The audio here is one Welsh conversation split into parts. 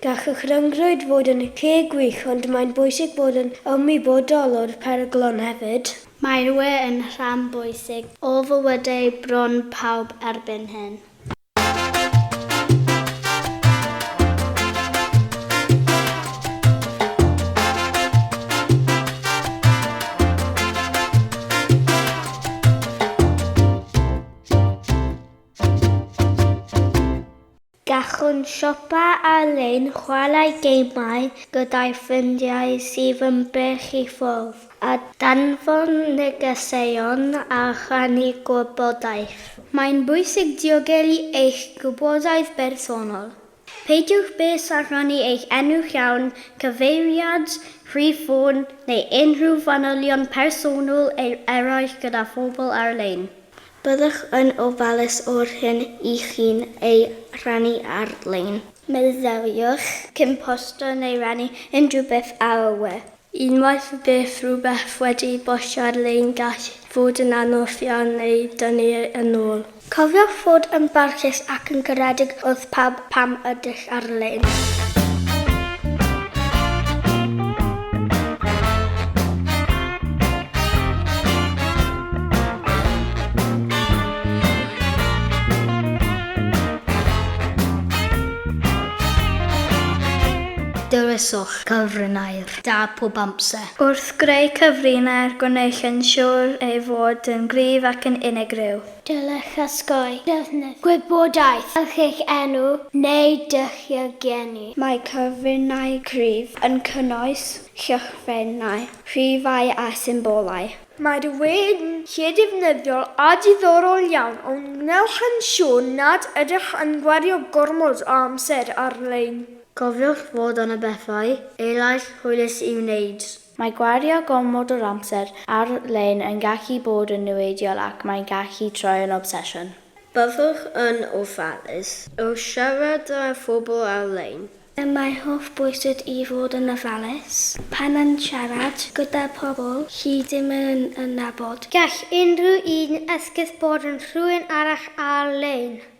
Gall y rhyngrwyd fod yn lle gwych ond mae'n bwysig bod yn ymwybodol o'r peryglon hefyd. Mae'r we yn rhan bwysig o fywydau bron pawb erbyn hyn. Gallwn siopa ar-lein, chwarae gemau gyda'i ffrindiau sydd yn bell i ffwrdd, a danfon negeseuon a rhannu gwybodaeth. Mae'n bwysig diogelu eich gwybodaeth bersonol. Peidiwch byth â rhannu eich enw llawn, cyfeiriad, rhif ffôn, neu unrhyw fanylion personol eraill gyda phobl ar-lein. Byddwch yn ofalus o'r hyn i chi'n ei rhannu ar-lein. Myfyriwch cyn postio neu rannu unrhyw beth ar y we. Unwaith y bydd rhywbeth wedi postio ar-lein gall fod yn anodd iawn ei dynnu yn ôl. Cofiwch fod yn barchus ac yn garedig wrth pawb Pam ydych ar-lein? Dewiswch cyfrinair da pob amser. Wrth greu cyfrinair, gwnewch yn siŵr ei fod yn gryf ac yn unigryw. Dylech osgoi defnydd gwybodaeth fel chi'ch enw neu dulliau geni. Mae cyfryngau cryf yn cynnwys llythrennau, rhifau a symbolau. Mae'r we'n lle defnyddiol a diddorol iawn o wnewch yn siŵr nad ydych yn gwario gormod o amser ar-lein. Cofiwch fod yna bethau eraill hwylus i'w wneud. Mae gwario gormod o'r amser ar-lein yn gallu bod yn niweidiol ac mae'n gallu troi yn obsesiwn. Byddwch yn ofalus o siarad â phobl ar-lein. Pam mae'n holl bwysig i fod yn ofalus pan mae'n siarad gyda phobl chi ddim yn nabod. Gall unrhyw un esgus bod yn rhywun arall ar-lein.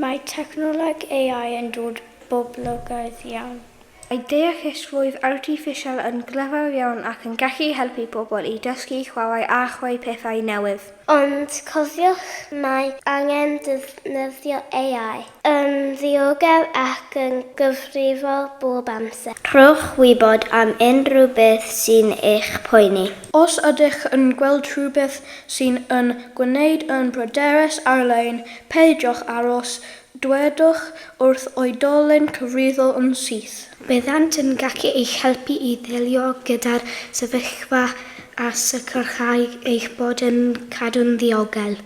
Mae technoleg AI yn dod boblogaidd iawn. Mae deallusrwydd artiffisial yn glyfar iawn ac yn gallu helpu pobl i dysgu, chwarae a chreu pethau newydd. Ond cofiwch, mae angen defnyddio AI yn ddiogel ac yn gyfrifol bob amser. Rhowch wybod am unrhyw beth sy'n eich poeni. Os ydych yn gweld rhywbeth sy'n yn gwneud yn bryderus ar-lein, Peidiwch aros, dwedwch wrth oedolyn cyfrifol yn syth. Byddant yn gallu eich helpu i ddelio gyda'r sefyllfa a sicrhau eich bod yn cadw'n ddiogel.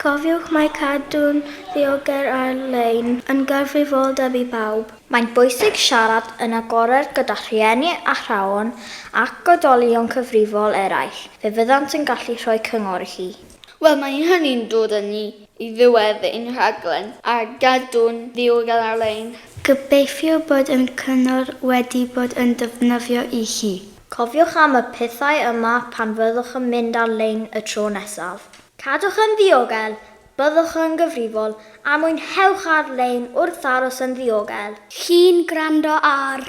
Cofiwch mai cadw'n ddiogel ar-lein yn gyfrifoldeb i bawb. Mae'n bwysig siarad yn agored gyda rhieni, athrawon ac oedolion cyfrifol eraill, fe fyddant yn gallu rhoi cyngor i chi. Wel, mae hynny'n dod â ni i ddiwedd ein rhaglen, a gadw'n ddiogel ar-lein. Gobeithio bod ein cyngor wedi bod yn defnyddio i chi. Cofiwch am y pethau yma pan fyddwch yn mynd ar-lein y tro nesaf. Cadwch yn ddiogel, byddwch yn gyfrifol, a mwynhewch ar-lein wrth aros yn ddiogel. Chi'n gwrando ar.